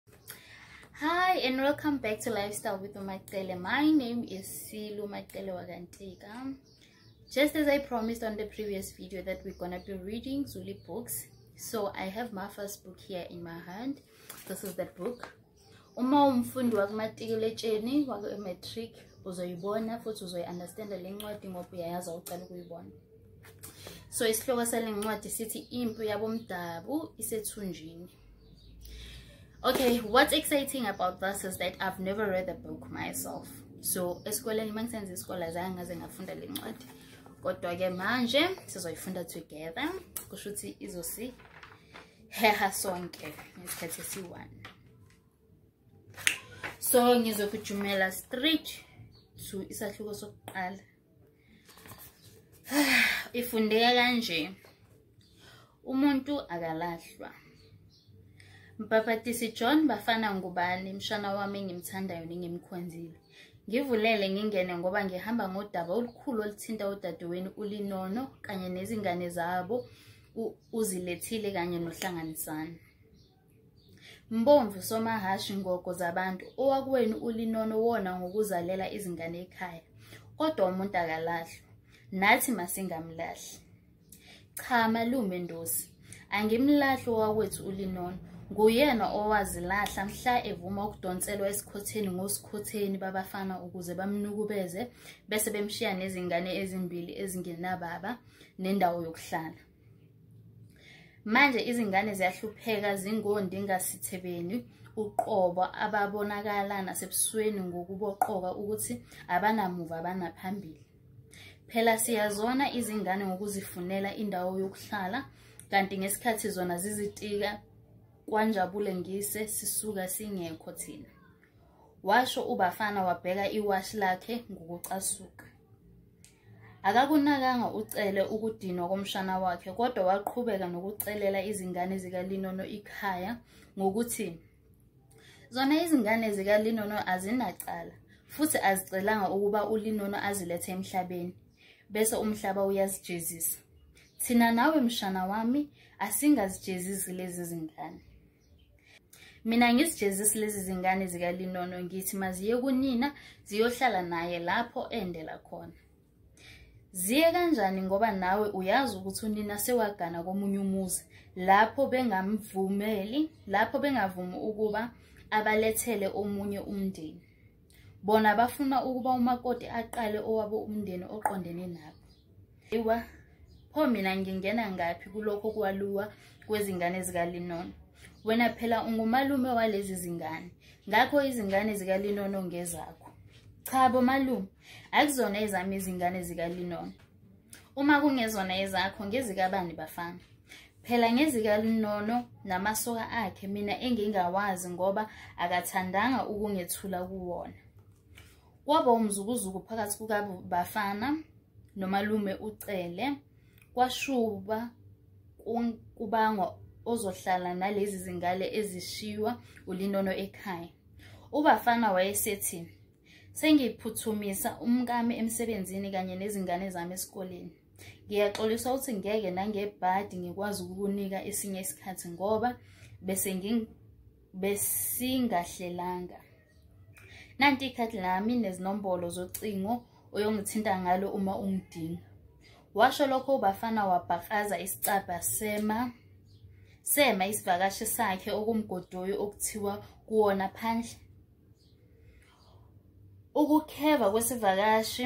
Hi and welcome back to Lifestyle with Umacele. My name is Silu Macele Wagantika. Just as I promised on the previous video that we're gonna be reading Zuli books. So I have my first book here in my hand. This is the book. Uma umfundi wakumatikiletsheni waku-matric uzoyibona futhi uzoyi-understanda le ncwadi ngoba uyayazi awucala ukuyibona so isihloko sale ncwadi sithi impi yabomdabu isethunjini okay what's exciting about this is that i've never read the book myself so esikoleni uma ngisenza isikole azange ngaze ngafunda le ncwadi kodwa-ke manje sizoyifunda together kusho ukuthi izosiheha sonke ngesikhathi esiyi-one so ngizokujumela straight to isahluko sokuqala ifundeka kanje umuntu akalahlwa mbhabhatisi john bafana ngubani mshana wami engimthandayo nengimkhonzile ngivulele ngingene ngoba ngihamba ngodaba olukhulu oluthinta udadewenu ulinono kanye nezingane zabo uzilethile kanye nohlanganisana Mbomvu somahhashi ngogo zabantu owakuwenu ulinono wona ngokuzalela izingane ekhaya kodwa umuntu akalahlwa nathi masingamlahli cha malume ndosi angimlahli owakwethu ulinono nguyena owazilahla mhla evuma ukudonselwa esikhotheni ngosikhotheni babafana ukuze bamnukubeze bese bemshiya nezingane ezimbili ezingenababa nendawo yokuhlala manje izingane ziyahlupheka zingondingasithebeni uqobo ababonakala nasebusweni ngokuboqoka ukuthi abanamuva abanaphambili phela siyazona izingane ngokuzifunela indawo yokuhlala kanti ngesikhathi zona zizitika kwanjabule ngise sisuka singekho thina washo ubafana wabheka iwashi lakhe ngokucasuka Akakunakanga uCele ukudinwa komshana wakhe kodwa waqhubeka nokucelela izingane zikaLinono ikhaya ngokuthi zona izingane zikaLinono azinacala futhi azicelanga ukuba uLinono azilethe emhlabeni bese umhlaba uyazijezisa. Thina nawe mshana wami asingazijezisi lezi zingane. mina ngisijezisi lezi zingane zikalinono ngithi maziye kunina ziyohlala naye lapho endela khona ziye kanjani ngoba nawe uyazi ukuthi unina sewagana komunye umuzi lapho bengamvumeli lapho bengavumi ukuba abalethele omunye umndeni bona bafuna ukuba umakoti aqale owabo umndeni oqondene nabo iwa pho mina ngingena ngaphi kulokho kwaluwa kwezingane zikalinono wena phela ungumalume walezi zingane ngakho izingane zikalinono ngezakho cha bomalume akuzona ezami izingane zikalinono uma kungezona ezakho ngezikabani bafana phela ngezikalinono namasoka akhe mina engingawazi ngoba akathandanga ukungethula kuwona kwaba umzukuzuku phakathi kukabafana nomalume ucele kwashuba kubangwa ozohlala nalezi zingale ezishiywa ulinono ekhaya ubafana wayesethi sengiphuthumisa umkami emsebenzini kanye nezingane zami esikoleni ngiyaxolisa ukuthi ngeke nangebhadi ngikwazi ukukunika esinye isikhathi ngoba bese besingahlelanga nanti ikhadi lami nezinombolo zocingo oyongithinta ngalo uma ungidinga washo lokho ubafana wabhakaza isicabha sema sema isivakashi sakhe okumgodoyi okuthiwa kuwona phandle ukukheva kwesivakashi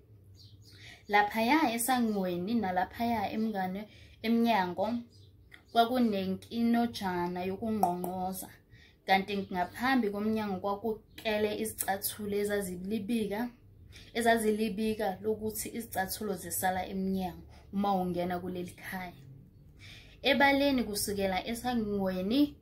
laphaya esangweni nalaphaya emngane emnyango kwakunenkinojana yokungqongqoza kanti ngaphambi komnyango kwakuqele izicathulo ezazilibika ezazilibika lokuthi izicathulo zisala emnyango uma ungena kuleli khaya ebaleni kusukela esangweni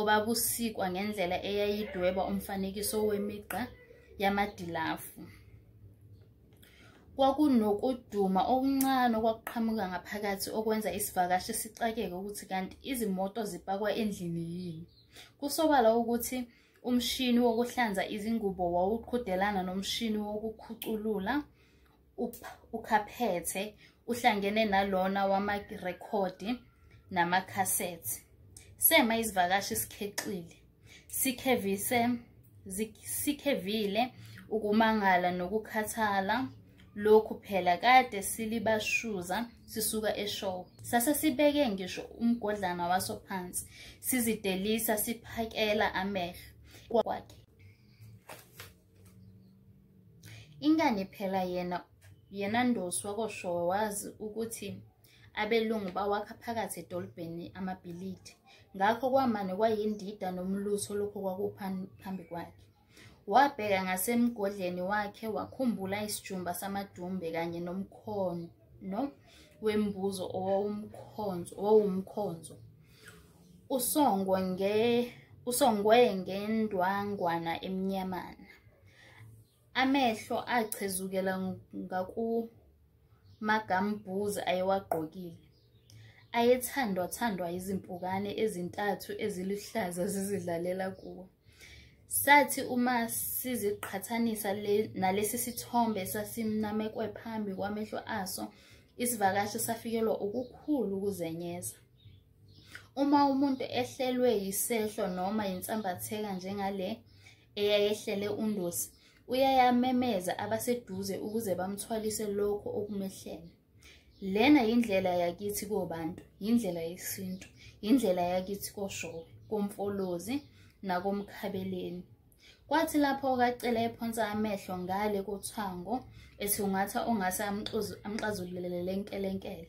obabusikwa ngendlela eyayidweba umfanekiso wemigqa yamadilafu kwakunokuduma okuncane okwakuqhamuka ngaphakathi okwenza isivakashi sixakeke ukuthi kanti izimoto zipakwa endlini yini kusobala ukuthi umshini wokuhlanza izingubo wawuqhudelana nomshini wokukhuculula ukhaphethe uhlangene nalona wamarekhodi namakhasethi sema izivakashi sikhexile sikhevise sikhevile ukumangala nokukhathala lokhu phela kade silibashuza sisuka eshow sase sibeke ngisho umgodlana waso phansi sizidelisa siphakela amehlo kwakhe Ingani phela yena yena Ndosi wakoshowe wazi ukuthi abelungu bawakha phakathi edolobheni amabhilidi ngakho kwamane kwayindida nomlutho lokho kwakuphambi kwakhe wabheka ngasemgodleni wakhe wakhumbula isijumba samadumbe kanye nomkhono no wembuzo owawumkhonzo owawumkhonzo usongwe nge usongwe ngendwangwana emnyamana amehlo achezukela ngakumagambuzi ayewagqokile ayethandwa thandwa izimpukane ezintathu eziluhlaza zizidlalela kuwo sathi uma siziqhathanisa nalesi sithombe sasimnamekwe phambi kwamehlo aso isivakashi safikelwa ukukhulu ukuzenyeza uma umuntu ehlelwe yisehlo noma yinsambatheka njengale eyayehlele undosi uyayamemeza abaseduze ukuze bamthwalise lokho okumehlele lena yindlela yakithi kobantu yindlela yesintu yindlela yakithi koshowe komfolozi nakomkhabeleni kwathi lapho okacela ephonsa amehlo ngale kothango ethi ungatha ongase amxazululele lenkelenkele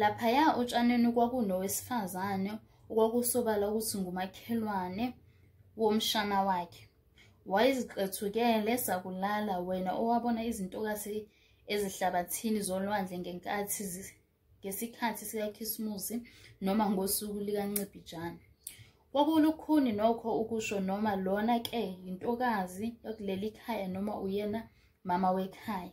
Laphaya otshaneni kwakunowesifazane okwakusobala ukuthi ngumakhelwane womshana wakhe. Wayeziqethukele sakulala wena owabona izintokazi ezihlabathini zolwandle ngenkathi ngesikhathi sikaKhisimusi noma ngosuku likaNcibijane. Kwakulukhuni nokho ukusho noma lona ke yintokazi yakuleli khaya noma uyena mama wekhaya.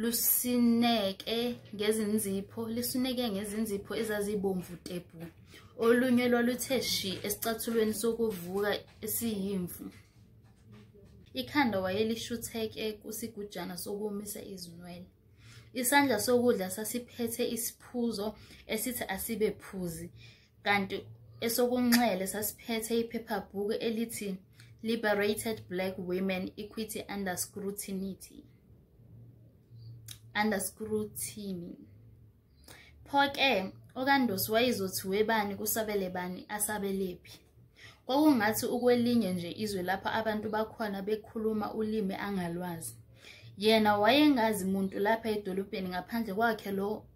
lusineke ngezinzipho lisineke ngezinzipho ezazibomvu tebhu olunye lwaluthe shi esicathulweni sokuvuka esiyimvu ikhanda wayelishutheke kusigujana sokumisa izinwele isandla sokudla sasiphethe isiphuzo esithi asibe phuzi kanti esokunxele sasiphethe iphephabhuku elithi liberated black women equity under scrutiny under scrutiny pho-ke okandosi wayezothi webani kusabele bani asabelephi kwakungathi ukwelinye nje izwe lapho abantu bakhona bekhuluma ulimi angalwazi yena wayengazi muntu lapha edolobheni ngaphandle kwakhe lo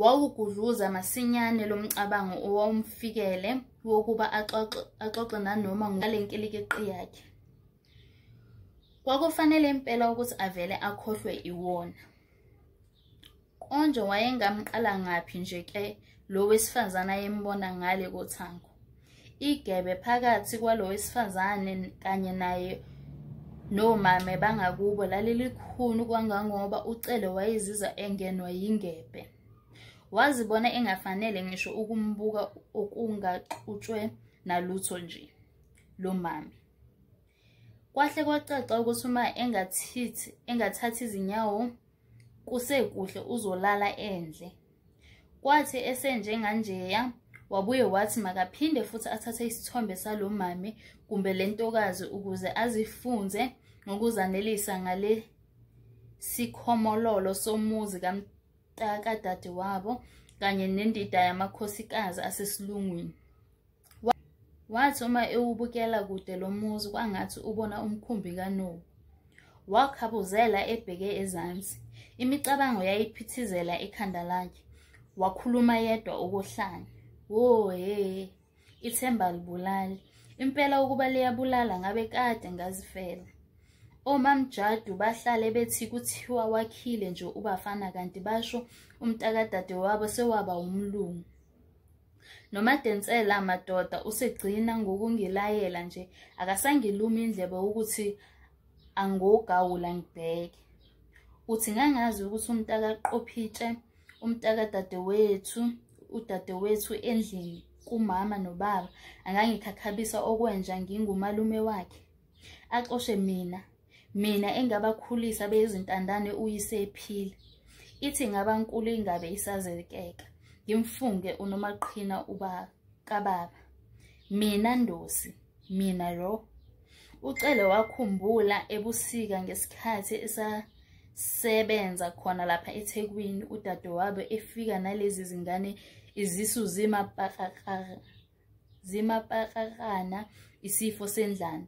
Wawugudluza masinyane lo mcabango owawumfikele wokuba axoxe axoxe nanoma ngale nkilikiqi yakhe. Kwakufanele impela ukuthi avele akhohlwe iwona. Konje wayengamqala ngaphi nje ke lo wesifazane ayembona ngale kothango. igebe phakathi kwalo wesifazane kanye naye nomame bangakubo lalilikhulu kwangangoba ucele wayeziza engenwa yingebe wazibona engafanele ngisho ukumbuka okungaxutshwe nalutho nje lo mame kwahle kwacaca ukuthi uma engathithi engathathi izinyawo kusekuhle uzolala endle kwathi esenjenganjeya wabuye wathi makaphinde futhi athathe isithombe salo mame kumbe le ntokazi ukuze azifunze ngokuzanelisa ngale sikhomololo somuzi kamtakadade wabo kanye nendida yamakhosikazi asesilungwini Wathi uma ewubukela kude lo muzi kwangathi ubona umkhumbi kanowu. Wakhabuzela ebheke ezansi. Imicabango yayiphithizela ekhanda lakhe. Wakhuluma yedwa ukohlanya. Wo he, ithemba libulali. Impela ukuba liyabulala ngabe kade ngazifela. Omamjadu bahlale bethi kuthiwa wakhile nje ubafana kanti basho umntakadade wabo sewaba umlungu. nomadensela madoda usegcina ngokungilayela nje akasangilumi indlebe ukuthi angogawula ngibheke uthi ngangazi ukuthi umntaka qophitshe umntaka dadewethu udadewethu endlini kumama nobaba angangikhakhabisa okwenja ngingumalume wakhe axoshe mina mina engabakhulisa beyizintandane uyisephila ithi ngaba nkulu ingabe isazekeka ngimfunge unomaqhina uba kababa mina ndosi mina ro ucele wakhumbula ebusika ngesikhathi esasebenza khona lapha ethekwini udadewabo efika nalezi zingane izisu zimapakakara zimapakakana isifo sendlala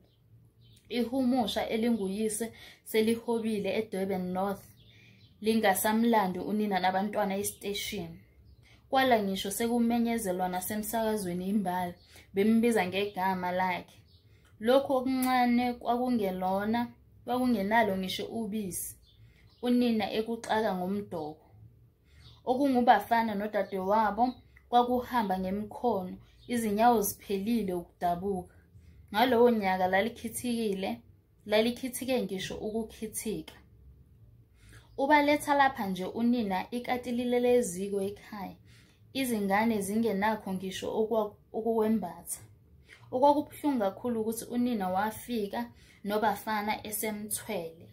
ihumusha elinguyise selihobile edurban north lingasamlandi unina nabantwana esiteshini kwala ngisho sekumenyezelwa nasemsakazweni imbala bembiza ngegama lakhe lokhu okuncane kwakungelona kwakungenalo ngisho ubisi unina ekuxaka ngomdoko okungubafana nodadewabo kwakuhamba ngemkhono izinyawo ziphelile ukudabuka ngalowo nyaka lalikhithikile lalikhithike ngisho ukukhithika ubaletha lapha nje unina ikatilile leziko ekhaya izingane zingenakho ngisho ukuwembatha okwakubuhlungu kakhulu ukuthi unina wafika nobafana esemthwele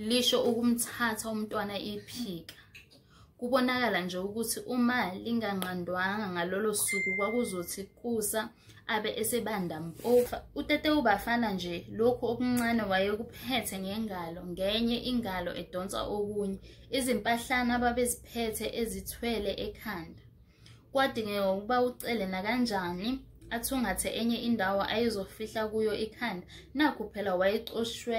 lisho ukumthatha umntwana iphika kubonakala nje ukuthi uma linganqandwanga ngalolo suku kwakuzothi kusa abe esebanda mpofa utete ubafana nje lokhu okuncane wayekuphethe ngengalo ngenye ingalo edonsa okunye izimpahlana ababeziphethe ezithwele ekhanda kwadingeka ukuba ucele nakanjani athungathe enye indawo ayezofihla kuyo ikhanda nakhu phela wayexoshwe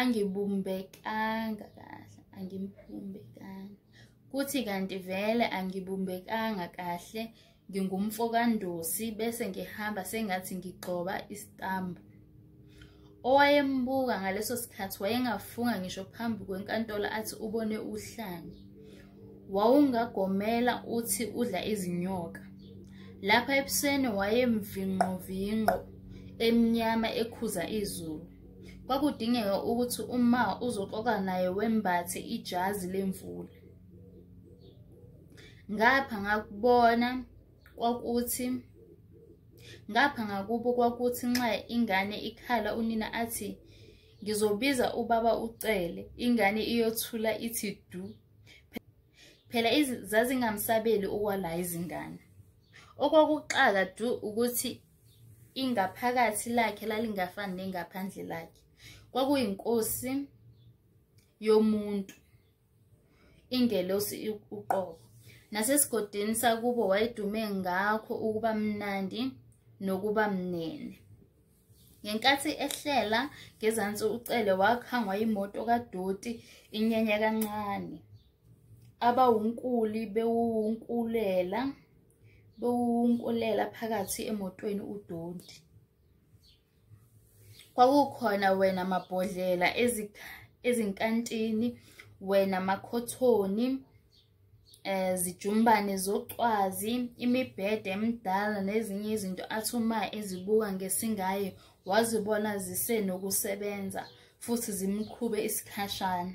angibumbekanga kahle angimbumbekanga kuthi kanti vele angibumbekanga kahle ngingumfo kandosi bese ngihamba sengathi ngigxoba istambu owayembuka ngaleso sikhathi wayengafunga ngisho phambi kwenkantolo athi ubone uhlanya wawungagomela uthi udla izinyoka lapha ebusweni wayemvinqovinqo emnyama ekhuza izulu kwakudingeka ukuthi uma uzoxoka naye wembathe ijazi lemvula ngapha ngakubona kwakuthi ngapha ngakubo kwakuthi nxa ingane ikhala unina athi ngizobiza ubaba ucele ingane iyothula ithi du phela zazingamsabeli okwala izingane okwakuxaka du ukuthi ingaphakathi lakhe lalingafani nengaphandle lakhe kwakuyinkosi yomuntu ingelosi uqobo nasesigodini sakubo wayedume ngakho ukuba mnandi nokuba mnene ngenkathi ehlela ngezansi ucele wakhangwa yimoto kadoti inyanya kancane abawunkuli bewuwunkulela bewunkulela phakathi emotweni udondi kwakukhona wena mabhodlela ezinkantini wena makhothoni eh zijumbane zocwazi imibhede emidala nezinye izinto athi uma ezibuka ngesingaye wazibona zisenokusebenza futhi zimqhube isikhashana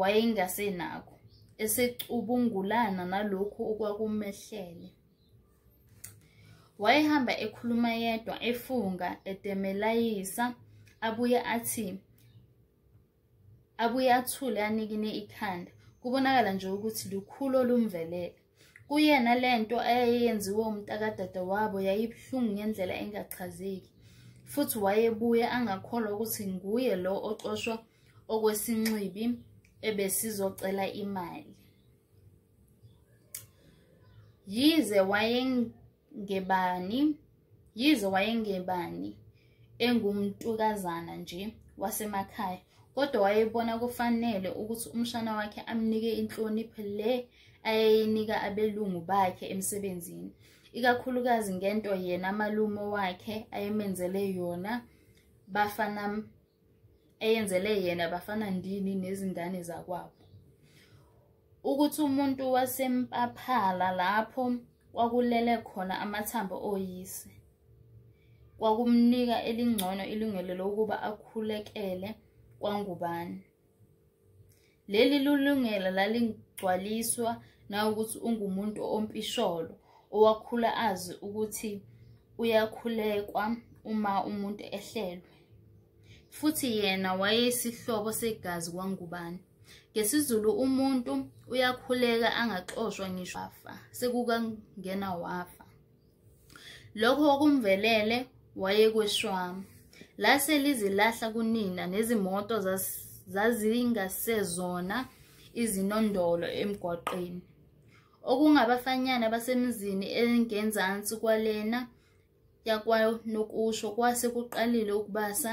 wayengasenakho esecubungulana nalokhu okwakumehlele wayehamba ekhuluma yedwa efunga edemelayisa abuye athi abuye athule anikine ikhanda kubonakala nje ukuthi lukhulu olumvelele Kuyena le nto eyayenziwe umntakadadewabo yayibuhlungu ngendlela engachazeki, futhi wayebuye angakholwa ukuthi nguye lo ocoshwa okwesinxibi ebesizocela imali. Yize ngebani yize wayengebani engumntukazana nje wasemakhaya kodwa wayebona kufanele ukuthi umshana wakhe amnike inhlonipho le ayeyinika abelungu bakhe emsebenzini ikakhulukazi ngento yena malume wakhe ayemenzele yona bafana eyenzele yena bafana ndini nezingane zakwabo ukuthi umuntu wasempaphala lapho kwakulele khona amathambo oyise kwakumnika elingcono ilungelo lokuba akhulekele kwangubani Leli lulungelo lalingcwaliswa nawukuthi ungumuntu ompisholo owakhula azi ukuthi uyakhulekwa uma umuntu ehlelwe. Futhi yena wayeyisihlobo segazi kwangubani. NgesiZulu umuntu uyakhuleka angaxoshwa ngisho wafa, sekukangena wafa. Lokho okumvelele wayekweshwama. Lase lizilahla kunina nezimoto zazingasezona izinondolo emgwaqeni. Okungabafanyana basemizini engenzansi kwalena yakwanokusho kwase kuqalile ukubasa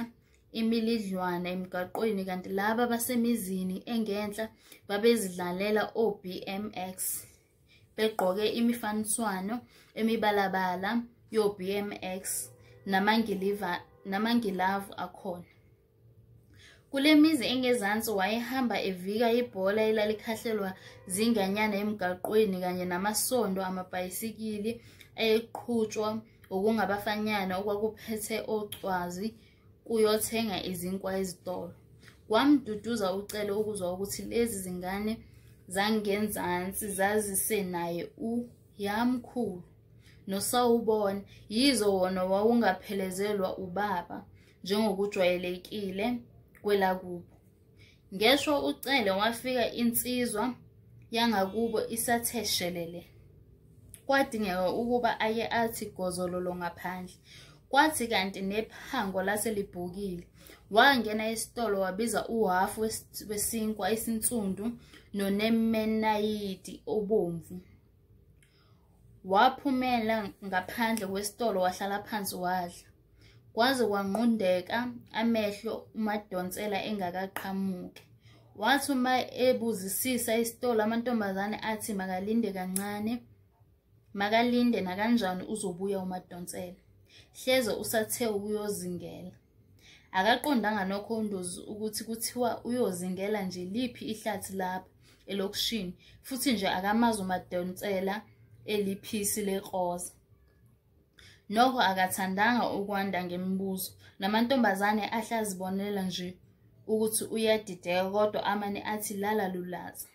imilidlwana emgaqweni kanti laba basemizini engenhla babezidlalela o-BMX. begqoke imifaniswano emibalabala yo-BMX namangilavu akhona. Kule mizi engezansi wayehamba evika ibhola elalikhahlelwa zinganyana emgaqweni kanye namasondo amabhayisikili ayeqhutshwa okungabafanyana okwakuphethe ocwazi kuyothenga izinkwa ezitolo wamduduza ucele ukuzwa ukuthi lezi zingane zangenzansi zazise naye u yamkhulu nosawubona yizo wona wawungaphelezelwa ubaba njengokujwayelekile kwelakubo Ngeshwa ucele wafika insizwa yangakubo isathe shelele. Kwadingeka ukuba aye athi gozololo ngaphandle. Kwathi kanti nephango lase libhukile. Wangena esitolo wabiza uhafu wesinkwa esinsundu nonemenayiti obomvu. Waphumela ngaphandle kwesitolo wahlala phansi wadla. Kwaze kwanqundeka amehlo uMadonsela engakaqhamuke. Wathi uma ebuzisisa isitolo amantombazane athi makalinde kancane. Makalinde nakanjani uzobuya uMadonsela. Hleze usathe ukuyozingela. akaqondanga nokho undozi ukuthi kuthiwa uyozingela nje liphi ihlathi lapha elokishini futhi nje akamazi umadonsela eliphisi lekroza nokho akathandanga ukwanda ngemibuzo namantombazane ahle azibonela nje ukuthi uyadideka kodwa amane athi lala lulaza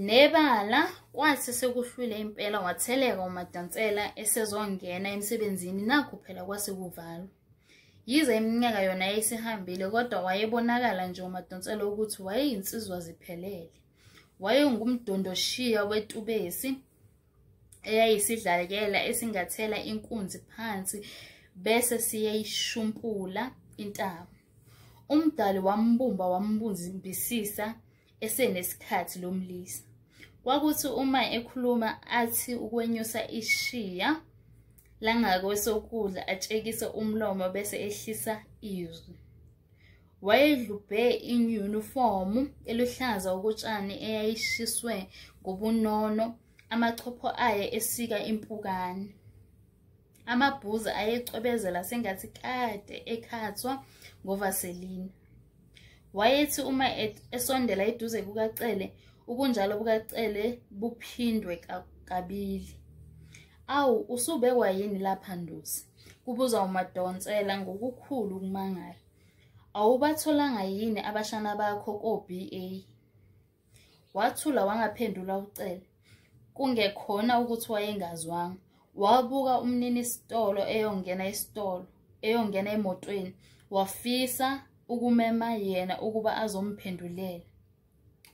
Nebala kwathi sekuhlwile impela watheleka uMadansela esezongena emsebenzini nakho phela kwase kuvalwa. Yize iminyaka yona yayisihambile kodwa wayebonakala nje uMadansela ukuthi wayeyinsizwa ziphelele. Wayengumdondoshiya wetubesi eyayisidlalekela esingathela inkunzi phansi bese siyeyishumpula intaba. Umdali wambumba wambunzimbisisa esenesikhathi lo mlisa kwakuthi uma ekhuluma athi ukwenyusa ishiya langakwesokudla atshekise umlomo bese ehlisa izwi wayedlubhe inyunifomu eluhlaza okutshani eyayishiswe ngobunono amachopho aye esika impukane Amabhuzi ayecwebezela sengathi kade ekhathwa ngovaselina. Wayethi uma esondela eduze kukaCele, ubunjalo bukaCele buphindwe kabili. Awu, usubekwa yini lapha Ndosi? kubuza uMadonsela ngokukhulu ukumangala. Awubatholanga yini abashana bakho ko-BA? wathula wangaphendula ucele kungekhona ukuthi wayengazwanga wabuka umnini isitolo eyongena isitolo eyongena emotweni wafisa ukumema yena ukuba azomphendulela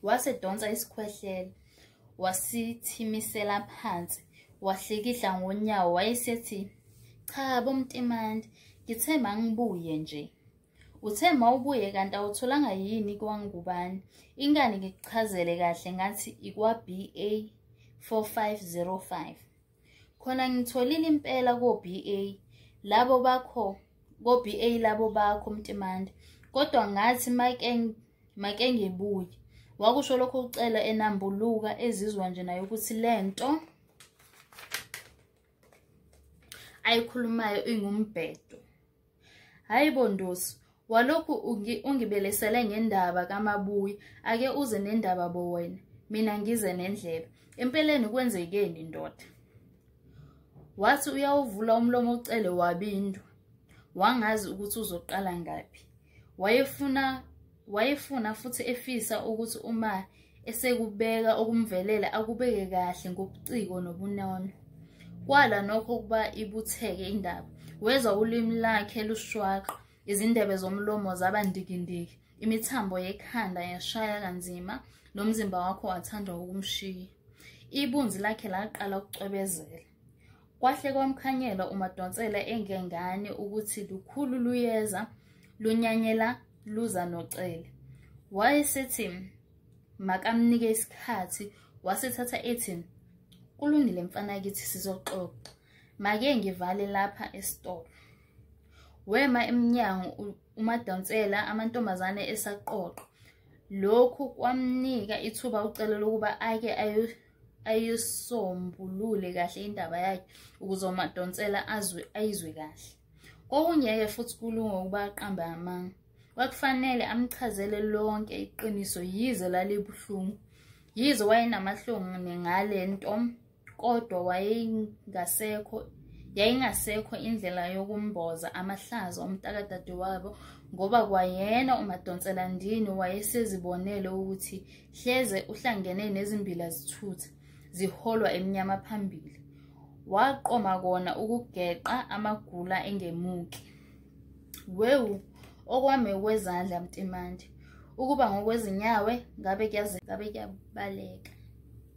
wase donsa isikhwehlela wasithimisela phansi wahlikihla ngonyawo wayesethi cha bomtimandi ngithemba ngibuye nje Uthe mawubuye kanti awutholanga yini kwangubani. Ingani ngikuchazele kahle ngathi ikwa BA 4505. Khona ngitholile impela ko BA labo bakho ko BA labo bakho Mtimande. Kodwa ngathi make make ngibuye. Wakusho lokho ucela enambuluka ezizwa nje nayo ukuthi lento ayikhulumayo ingumbhedo. Hayi bo Ndosi, walokhu ungi- ungibelesele ngendaba kamabuyi, ake uze nendaba bo wena, mina ngize nendlebe. Empeleni kwenzekeni ndoda? Wathi uyawuvula umlomo ucele wabindwa. Wangazi ukuthi uzoqala ngaphi. Wayefuna Wayefuna futhi efisa ukuthi uma esekubeka okumvelela akubeke kahle ngobuciko nobunono. Kwala nokho ukuba ibutheke indaba. Wezwa ulimi lakhe lushwaqa, izindebe zomlomo zaba ndikindiki, imithambo yekhanda yashaya kanzima, nomzimba wakho wathandwa ukumshiya. Ibunzi lakhe laqala ukucwebezela. Kwahle kwamkhanyela uMadonsela engengane ukuthi lukhulu luyeza lunyanyela luza noCele. Wayesethi makamnike isikhathi wasethatha ethi kulungile mfana kithi sizoxoxa. Make ngivale lapha esitolo. Wema emnyango uMadonsela amantombazane esaqoqo. Lokhu kwamnika ithuba uCele lokuba ake ayo ayisombulule kahle indaba yakhe ukuze umadonsela azwe ayizwe kahle kokungeke futhi kulunge ukuba aqambe amanga kwakufanele amchazele lonke iqiniso yize lalibuhlungu yize wayenamahlungu nengale nto kodwa wayengasekho yayingasekho indlela yokumboza amahlazo omntakadadewabo ngoba kwayena umadonsela ndini wayesezibonele ukuthi hleze uhlangene nezimbila zithutha ziholwa emnyama phambili waqoma kona ukugeqa amagula engemuki wewu okwami kwezandla mtimande ukuba ngokwezinyawe ngabe kuyaze ngabe kuyabaleka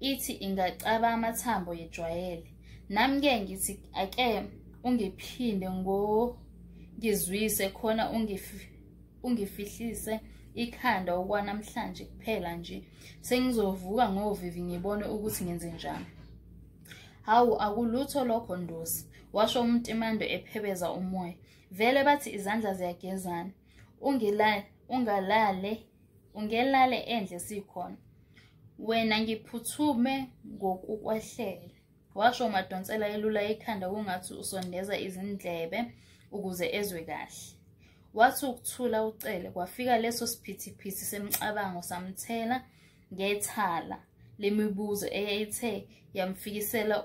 ithi ingacaba amathambo yejwayele nami ke ngithi ake ungiphinde ngo ngizwise khona ungifihlise ikhanda okwanamhlanje kuphela nje sengizovuka ngovivi ngibone ukuthi ngenze njani hawu akulutho lokho ndosi washo umtimando ephebeza umoya vele bathi izandla ziyagezana ungalale ungelale endle sikhona wena ngiphuthume ngokukwehlela washo umadonsela elula ikhanda kungathi usondeza izindlebe ukuze ezwe kahle wathi ukuthula ucele kwafika leso siphithiphithi semcabango samthela ngethala lemibuzo eyayithe yamfikisela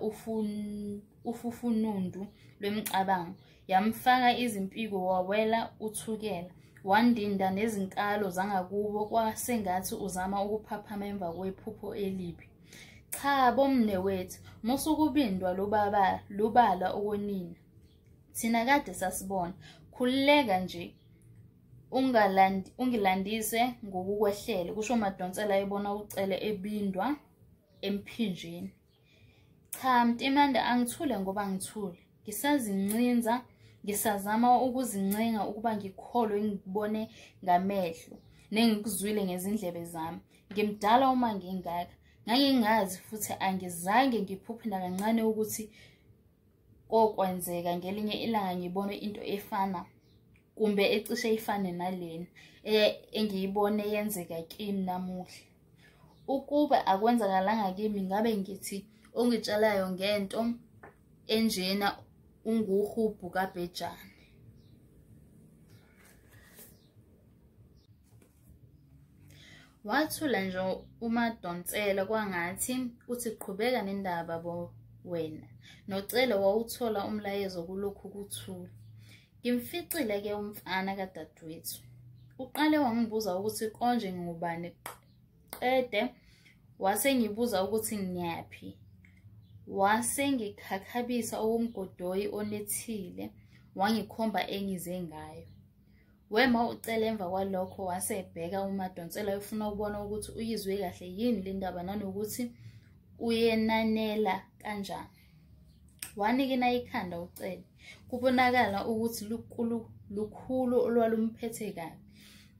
ufufunundu lwemicabango yamfaka izimpiko wawela uthukela wandinda nezinkalo zangakubo kwasengathi uzama ukuphaphama emva kwephupho elibi cha bomne wethu musukubindwa lubaba lubala okonina thina kade sasibona khululeka nje ungilandise ngokukwehlele kusho madonsela ebona ucele ebindwa emphinjeni Cha Mtimande angithule ngoba ngithule. Ngisazincinza, ngisazama ukuzincenga ukuba ngikholwe ngikubone ngamehlo nengikuzwile ngezindlebe zami. Ngimdala uma ngingaka. Ngangingazi futhi angizange ngiphuphe nakancane ukuthi kokwenzeka ngelinye ilanga ngibone into efana kumbe ecishe ifane nalena e-, engiyibone yenzeka kimi namuhla ukuba akwenzakalanga kimi ngabe ngithi ongitshalayo ngento enjena unguhubhu kabhejane wathula nje umadonsela kwangathi uthi qhubeka nendaba bo wena nocele wawuthola umlayezo kulokhu kuthula ngimficile ke umfana kadadewethu uqale wangibuza ukuthi konje ngingubani qede wase ngibuza ukuthi ngiyaphi wase ngikhakhabisa okumgodoyi onethile wangikhomba engize ngayo Wema ucele emva kwalokho wase ebheka uMadonsela efuna ukubona ukuthi uyizwe kahle yini le ndaba nanokuthi uyenanela kanjani. Wanikina ikhanda ucele. Kubonakala ukuthi lukhulu lukhulu olwalumphethe kabi.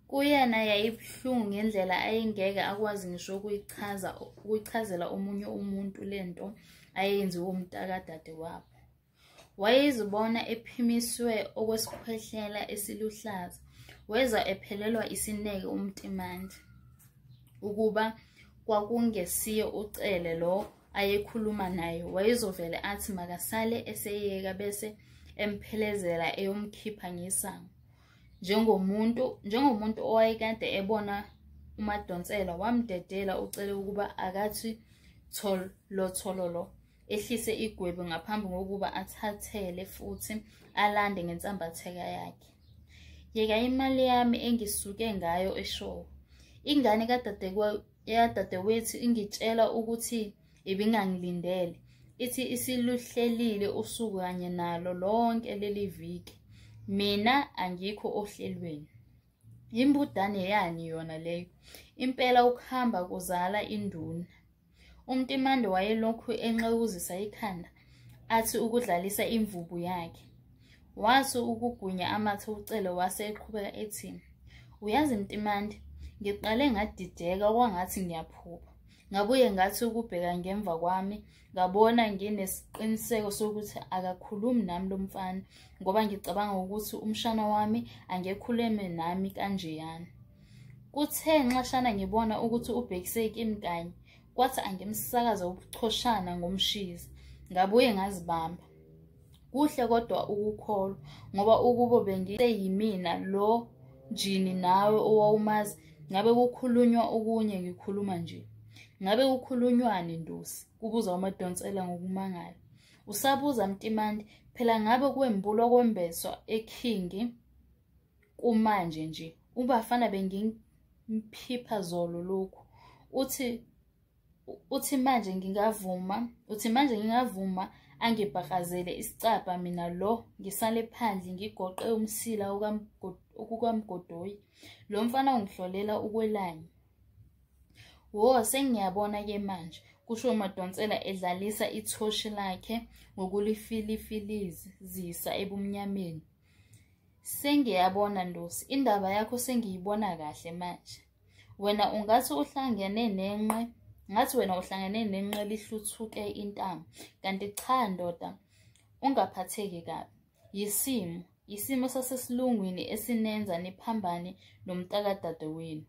Kuyena yayibuhlungu ngendlela ayengeke akwazi ngisho ukuyichaza ukuchazela omunye umuntu lento ayenziwe umntakadade wabo. Wayezibona ephimiswe okwesikhwehlela esiluhlaza, weza ephelelwa isineke uMtimandi ukuba kwakungesiye uCele lo ayekhuluma naye, wayezovele athi makasale eseyeka bese emphelezela eyomkhipha ngesango. Njengomuntu njengomuntu owayekade ebona uMadonsela wamdedela uCele ukuba akathi tholothololo. ehlise igwebu ngaphambi kokuba athathele futhi alande ngensambatheka yakhe yeka imali yami engisuke ngayo eshowo ingane kadadewethu ingitshela ukuthi ibingangilindele ithi isiluhlelile usuku kanye nalo lonke leli viki mina angikho ohlelweni yimbudane yani yona leyo impela ukuhamba kuzala induna Umtimande wayelokhu enxewuzisa ikhanda athi ukudlalisa imvubu yakhe. Wathi ukugunya amathe ucele wase eqhubeka ethi, Uyazi Mtimande, ngiqale ngadideka kwangathi ngiyaphupha. Ngabuye ngathi ukubheka ngemva kwami ngabona nginesiqiniseko sokuthi akakhulumi nami lo mfana ngoba ngicabanga ukuthi umshana wami angekhuleme nami kanjeyana. Kuthe nxashana ngibona ukuthi ubhekise kimi kanye, kwathi angimsakaza ubuchoshana ngomshizi. Ngabuye ngazibamba. Kuhle kodwa ukukholwa ngoba ukubo bengiyimina lo jini nawe owawumazi ngabe kukhulunywa okunye ngikhuluma nje. Ngabe kukhulunywani Ndosi? kubuza uMadonsela ngokumangala. Usabuza Mtimandi, phela ngabe kwembulwa kwembeswa ekhingi. kumanje nje ubafana bengimphipha zolo lokhu uthi uthi manje ngingavuma uthi manje ngingavuma angibhakazele isicabha mina lo ngisale phandle ngigoqe umsila okukamgodoyi lo mfana ungihlolela ukwelanye wo sengiyabona ke manje kusho umadonsela edlalisa ithoshi lakhe ngokulifilifilizisa ebumnyameni Sengiyabona Ndosi, indaba yakho sengiyibona kahle manje. Wena ungathi uhlangene nenqe, ngathi wena uhlangene nenqe lihluthuke intamo. Kanti cha ndoda, ungaphatheki kabi. Yisimo, yisimo sasesilungwini esinenza niphambane nomtakadadewenu.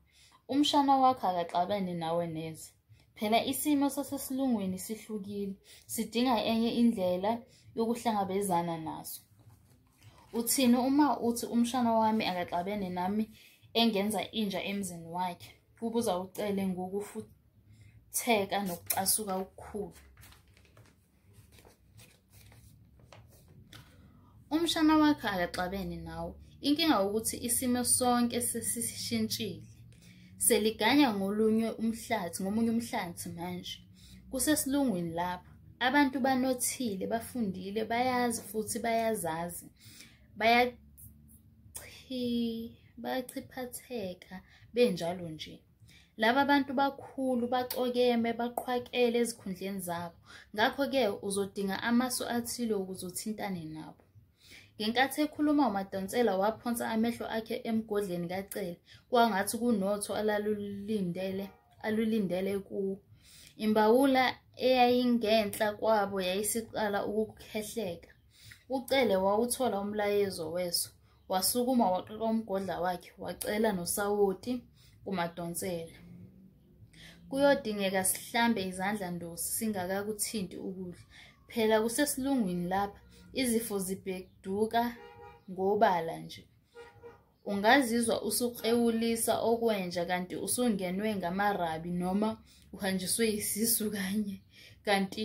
Umshana wakho akaxabene nawe neze. Phela isimo sasesilungwini sihlukile, sidinga enye indlela yokuhlangabezana naso. Uthini uma uthi umshana wami akaxabene nami engenza inja emzini wakhe? Kubuza uCele ngokufutheka nokucasuka okukhulu. umshana wakhe akaxabene nawe inkinga ukuthi isimo sonke sesishintshile seliganya ngolunye umhlathi ngomunye umhlathi manje kusesilungwini lapha abantu banothile bafundile bayazi futhi bayazazi bayachiphatheka benjalo nje laba bantu bakhulu bacokeme baqhwakele ezikhundleni zabo ngakho-ke uzodinga amasu athile ukuze uthintane nabo ngenkathi ekhuluma umadonsela waphonsa amehlo akhe emgodleni kacele kwangathi kunotho alalulindele alulindele kuwo imbawula eyayingenhla kwabo yayisiqala ukukhehleka ucele wawuthola umlayezo weso wasukuma waqoqa umgodla wakhe wacela nosawoti kumadonsela kuyodingeka sihlambe izandla ndosi singakakuthinti ukudla phela kusesilungwini lapha izifo zibheduka ngobala nje ungazizwa usukrewulisa okwenja kanti usungenwe ngamarabi noma uhanjiswe yisisu kanye kanti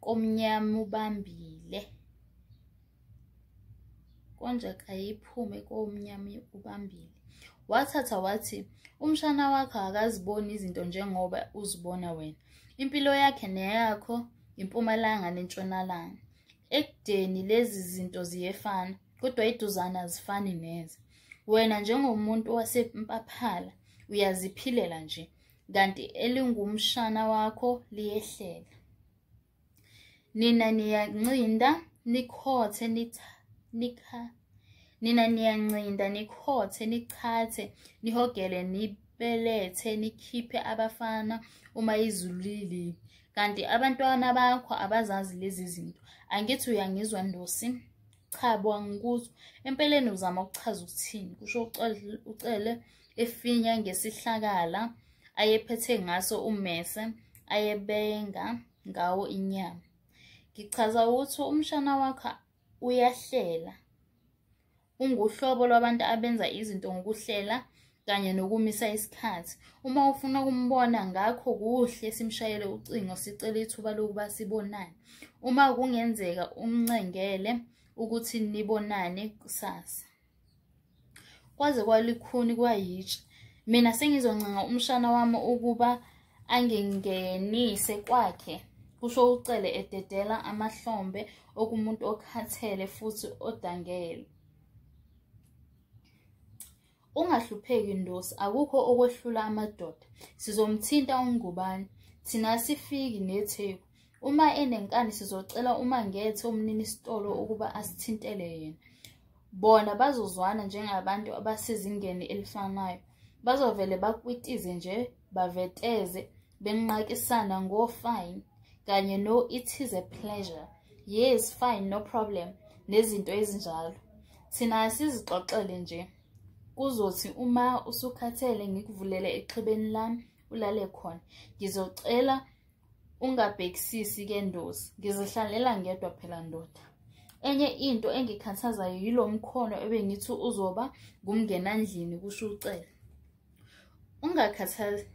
komnyama ubambile konje kayiphume komnyama ubambile wathatha wathi umshana wakho akaziboni izinto njengoba uzibona wena impilo yakhe neyakho impumalanga nentshonalanga ekudeni lezi zinto ziyefana kodwa iduzana azifani neze wena njengomuntu wasempaphala uyaziphilela nje kanti elingumshana wakho liyehlele nina niyancinda nikhothe nikha nina niyancinda nikhothe nichathe nihogele nibelethe nikhiphe abafana uma izulu lilile kanti abantwana bakho abazazi lezi zinto angithi uyangizwa ndosi cha bo angikuzwa empeleni uzama ukuchaza ukuthini kusho ucele, ucele efinya ngesihlakala ayephethe ngaso ummese ayebenga ngawo inyama ngichaza ukuthi umshana wakho uyahlela unguhlobo lwabantu abenza izinto ngokuhlela kanye nokumisa isikhathi uma ufuna ukumbona ngakho kuhle simshayele ucingo sicele ithuba lokuba sibonane uma kungenzeka umncengele ukuthi nibonane kusasa kwaze kwalikhuni kwayitshe mina sengizoncenga umshana wami ukuba angingenise kwakhe kusho ucele ededela amahlombe okumuntu okhathele futhi odangele ungahlupheki ndosi akukho okwehlula amadoda sizomthinta ungubani thina sifiki netheku Uma enenkani sizocela uMangethe umnini sitolo ukuba asithintele yena. Bona bazozwana njengabantu abasezingeni elifanayo. Bazovele bakwitize nje baveteze benqakisana ngo fine kanye no it is a pleasure. Yes fine no problem nezinto ezinjalo. Thina sizixoxele nje. Kuzothi uma usukhathele ngikuvulele exhibeni lami ulale khona. Ngizocela ungabhekisisi ke ndosi ngizihlalela ngedwa phela ndoda enye into engikhathazayo yilo mkhono ebengithi uzoba ngumngenandlini kusho ucele ungakhathazi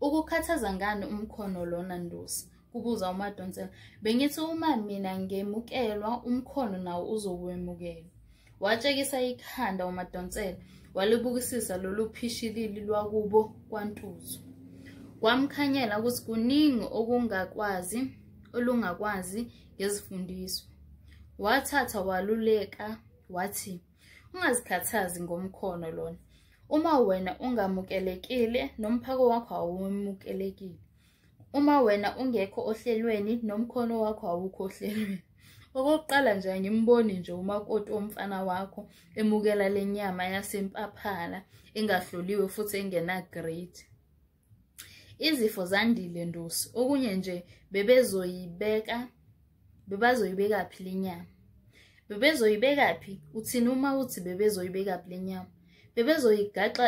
ukukhathaza ngani umkhono lona ndosi kubuza umadonsela bengithi uma mina ngemukelwa umkhono nawo uzokwemukela Watshekisa ikhanda uMadonsela walibukisisa lolu phishilili lwakubo kwaNtuzu. Kwamkhanyela ukuthi kuningi okungakwazi olungakwazi ngezifundiswa. Wathatha waluleka wathi ungazikhathazi ngomkhono lona. Uma wena ungamukelekile nomphako wakho awumukelekile. uma wena ungekho ohlelweni nomkhono wakho awukho ohlelweni okokuqala nje angimboni nje umakoti omfana wakho emukela le nyama yasempaphala engahloliwe futhi engena-grade izifo zandile ndosi okunye nje bebezoyibeka bebazoyibeka phi le nyama bebezoyibeka phi uthini uma uthi bebezoyibeka phi le nyama bebezoyigaxa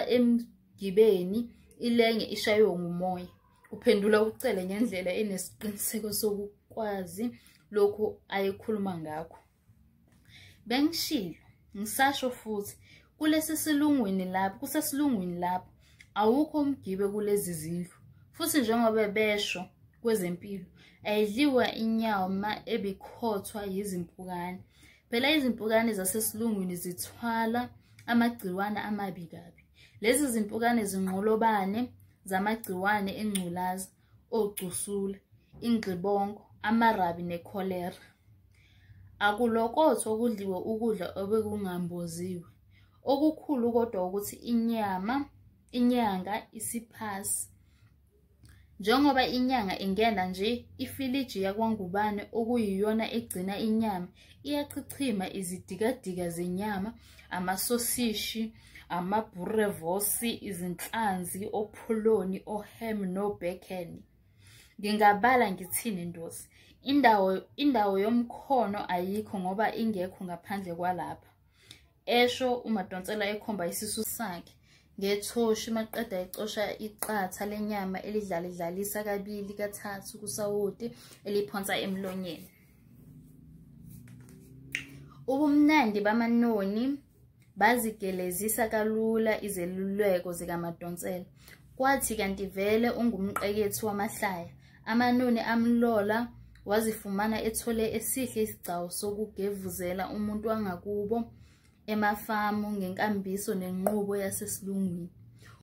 Gibeni, ilenge ishaywe ngumoya. Uphendula uCele ngendlela enesiqiniseko sokukwazi lokhu ayekhuluma ngakho. Bengishilo, ngisasho futhi, kulesi silungwini lapho, kusesilungwini lapho, awukho umgibe kulezi zindlu. Futhi njengoba besho kwezempilo, ayidliwa inyawo ma ebikhothwa yizimpukane. Phela izimpukane zasesilungwini zithwala amagciwane amabi kabi. Lezi zimpukane zinqolobane zamagciwane engculaza, ogcusula, ingxibongo, amarabi nekholera. Akulokothwa okudliwe ukudla obekungamboziwe. Okukhulu kodwa ukuthi inyama, inyanga, isiphasi, Njengoba inyanga ingena nje, ifiliji yakwangubane okuyiyona egcina inyama iyachichima izidikadika zenyama, amasosishi, amabhurevosi, izinhlanzi, opholoni, ohem no-bacon. Ngingabala ngithini ndosi? Indawo, indawo yomkhono ayikho ngoba ingekho ngaphandle kwalapha. esho umadonsela ekhomba isisu sakhe ngethoshi maqeda ecosha iqatha lenyama elidlalidlalisa kabili kathathu kusawoti eliphonsa emlonyeni ubumnandi bamanoni bazigelezisa kalula izeluleko zikamadonsela kwathi kanti vele ungumqekethi wamahlaya Amanoni amlola wazifumana ethole esihle isigcawu sokugevuzela umuntu wangakubo emafamu ngenkambiso nenqubo yasesilungwini.